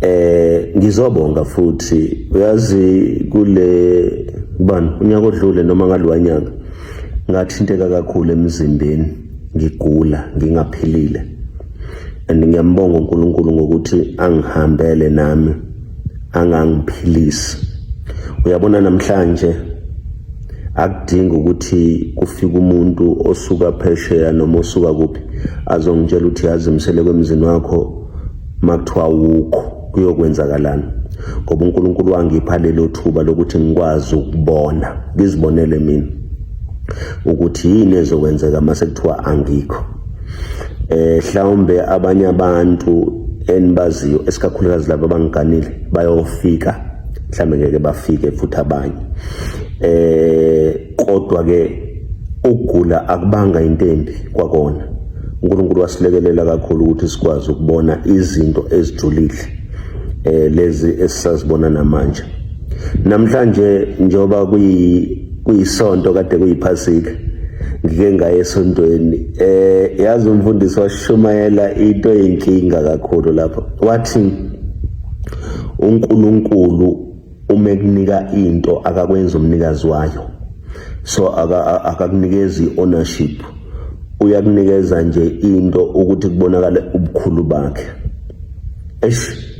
Eh ngizobonga futhi uyazi kule bani unyaka odlule noma ngalowa nyaka ngathinteka kakhulu emzimbeni ngigula ngingaphilile and ngiyambonga uNkulunkulu ngokuthi angihambele nami angangiphilisi uyabona namhlanje akudingi ukuthi kufike umuntu osuka phesheya noma osuka kuphi azongitshela ukuthi yazi msele kwemzini wakho makuthiwa wukho kuyokwenzakalani ngoba uNkulunkulu wangipha lelo thuba lokuthi ngikwazi ukubona ngizibonele mina ukuthi yini ezokwenzeka mase kuthiwa angikho eh hlawumbe abanye abantu enibaziyo esikakhulukazi laba abangiganile bayofika mhlawumbe ngeke bafike futhi abanye eh kodwa ke ukugula akubanga into embi kwakona uNkulunkulu wasilekelela kakhulu ukuthi sikwazi ukubona izinto ezijulile eh lezi esisazibona namanje namhlanje njoba kuyi kuyisonto kade kuyiphasika ngike ngaye esontweni eh yazi umfundisi washumayela into eyinkinga kakhulu lapho wathi uNkulunkulu uma ekunika into akakwenza umnikazi wayo so akakunikezi ownership uyakunikeza nje into ukuthi kubonakale ubukhulu bakhe eish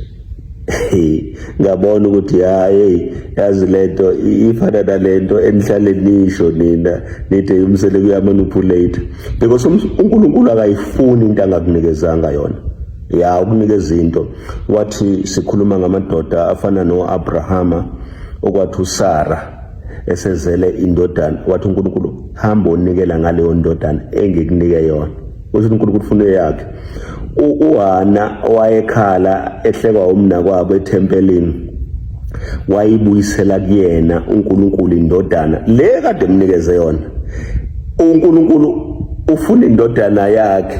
ngabona ukuthi hayi yazi lento ifana nalento enihlale nisho nina nithe umsele kuyamanipulate because uNkulunkulu akayifuni into angakunikezanga yona ya ukunikeza into Wathi sikhuluma ngamadoda afana no-Abrahama okwathi uSara esezele indodana wathi uNkulunkulu hamba onikela ngaleyo ndodana engikunike yona uthi uNkulunkulu ufuna eyakhe uHana wayekhala ehlekwa umnakwabo ethempelini wayibuyisela kuyena uNkulunkulu indodana le kade emnikeze yona uNkulunkulu ufuna indodana yakhe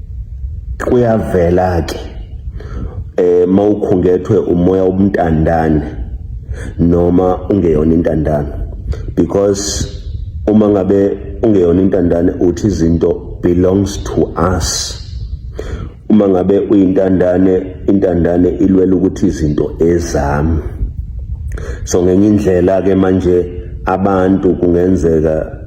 kuyavela ke eh mawukhungethwe umoya obumntandane noma ungeyona intandane because uma ngabe ungeyona intandane uthi izinto belongs to us uma ngabe uyintandane intandane ilwela ukuthi izinto ezami so ngenye indlela ke manje abantu kungenzeka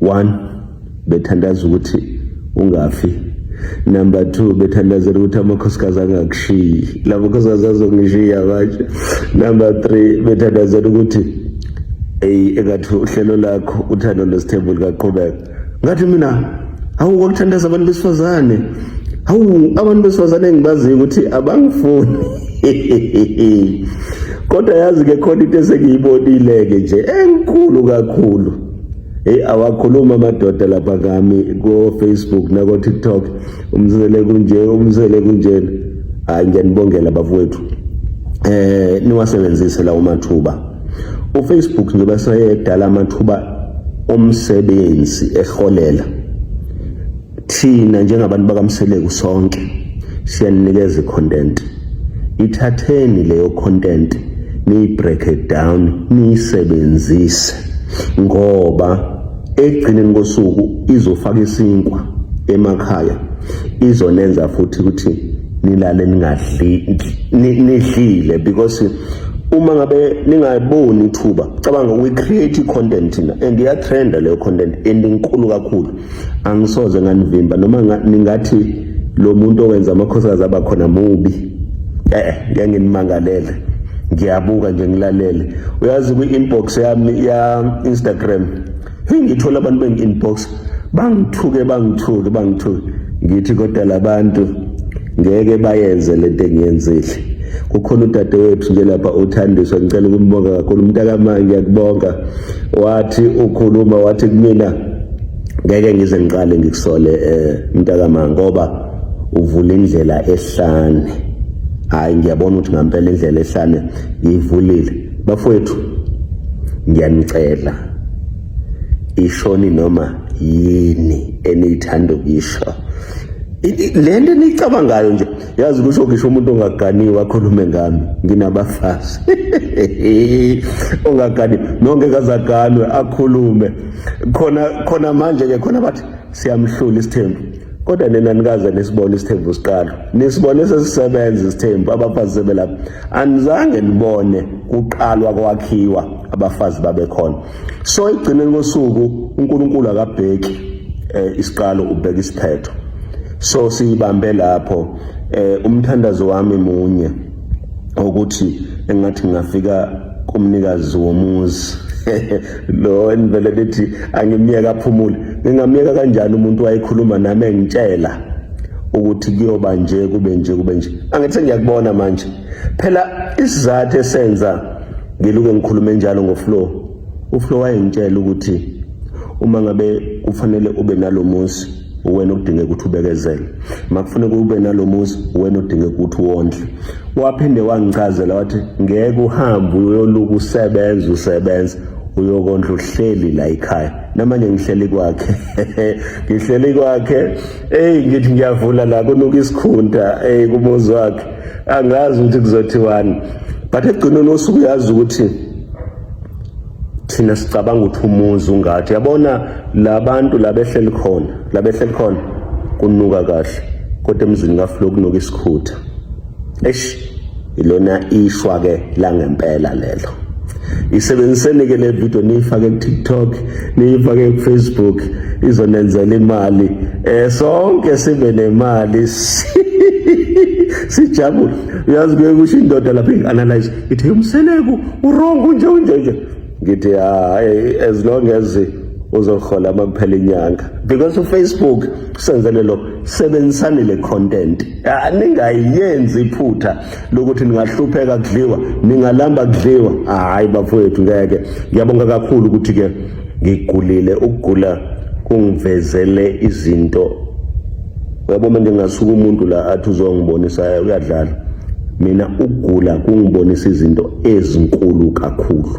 one bethandaza ukuthi ungafi number two bethandazela ukuthi amakhosikazi angakushiyi la makhosikazi azongishiya manje number three bethandazela ukuthi eyi engathi uhlelo lakho uthando nesithembu likaqhubeka ngathi mina hawu kwakuthandaza abantu besifazane hawu abantu besifazane engibaziyo ukuthi abangifuni kodwa yazi-ke khona into esengiyibonile-ke nje enkulu kakhulu Hey awakhuluma amadoda lapha kami ko Facebook nako TikTok umzele kunje umzele kunjena hayi ngiyanibongela bafowethu eh niwasebenzise lawo mathuba uFacebook nje basayedala amathuba omsebenzi eholela Thina njengabantu bakamseleku sonke siyaninikeza icontent. Ithatheni leyo content niyi break it down niyisebenzise ngoba ekugcineni kosuku izofaka isinkwa emakhaya izonenza futhi ukuthi nilale ningadli nidlile because uma ngabe ningayiboni ithuba cabanga we create content na and iya trend leyo content and inkulu kakhulu angisoze nganivimba noma ningathi lo muntu owenza amakhosikazi aba khona mubi eh ngeke nginimangalele ngiyabuka nje ngilalele uyazi kwi-inbox yami ya Instagram hey ngithola abantu bengi-inbox bangithuke bangithuke bangithuke ngithi kodwa labantu ngeke bayenze lento engiyenzile kukhona udade wethu nje lapha uthandiswa ngicela ukumbonga kakhulu umntakamanje ngiyakubonga wathi ukhuluma wathi kumina ngeke ngize ngiqale ngikusole eh, mntakama ngoba uvula indlela ehlane hayi ngiyabona ukuthi ngampela indlela ehlane ngiyivulile bafowethu ngiyanicela ishoni noma yini eniyithanda ukuyisho le nto eniyicabangayo nje yazi kusho ngisho umuntu ongaganiwe akhulume ngami nginabafazi ongaganiwe nonke kazaganwe akhulume khona khona manje ke khona bathi siyamhlula isithembu kodwa nina nikaze nisibone isithembu siqala nisibone sesisebenza isithembu abafazi sebelapha anizange nibone kuqalwa kwakhiwa abafazi babekhona so igcineni kosuku uNkulunkulu akabheki eh, isiqalo ubheka isiphetho so siyibambe lapho eh, umthandazo wami munye ukuthi engathi ngingafika kumnikazi womuzi lo enivele lithi angimyeka aphumule ngingamyeka kanjani umuntu wayekhuluma nami engitshela ukuthi kuyoba nje kube nje kube nje angithi ngiyakubona manje phela isizathu esenza ngiluke ngikhulume njalo ngoflo uflo wayengitshela ukuthi uma ngabe kufanele ube nalomuzi uwena odinga ukuthi ubekezele makufuneka ube nalomuzi uwena odinga ukuthi wondle waphinde wangichazela wathi ngeke uhambe uyoluku usebenza usebenza uyokondla uhleli la ekhaya namanje ngihleli kwakhe ngihleli kwakhe hey ngithi ngiyavula la kunuka isikhunta hey kumuzi wakhe angazi ukuthi kuzothiwani but ekugcineni osuku uyazi ukuthi thina sicabanga ukuthi umuzi ungathi yabona labantu labehleli khona labehleli khona kunuka kahle kodwa emzini kaflo kunuka isikhutha eish ilona ishwa ke langempela lelo isebenziseni ke le video niyifake ku-tiktok niyifake kufacebook izonenzela imali um sonke sibe nemali sijabule uyazi kuye kusho indoda lapho ingi-analyze ithi umseleku urongo unje unje nje ngithi hayi ah, as long as uzohola uma kuphela inyanga because ufacebook usenzele lo sebenzisani le content ah, ningayenzi iphutha lokuthi ningahlupheka kudliwa ningalamba kudliwa hayi bafowethu ngeke ngiyabonga kakhulu ukuthi ke ngigulile ukugula kungivezele izinto yabo manje ngasuka umuntu la athi uzongibonisa uyadlala mina ukugula kungibonisa izinto ezinkulu kakhulu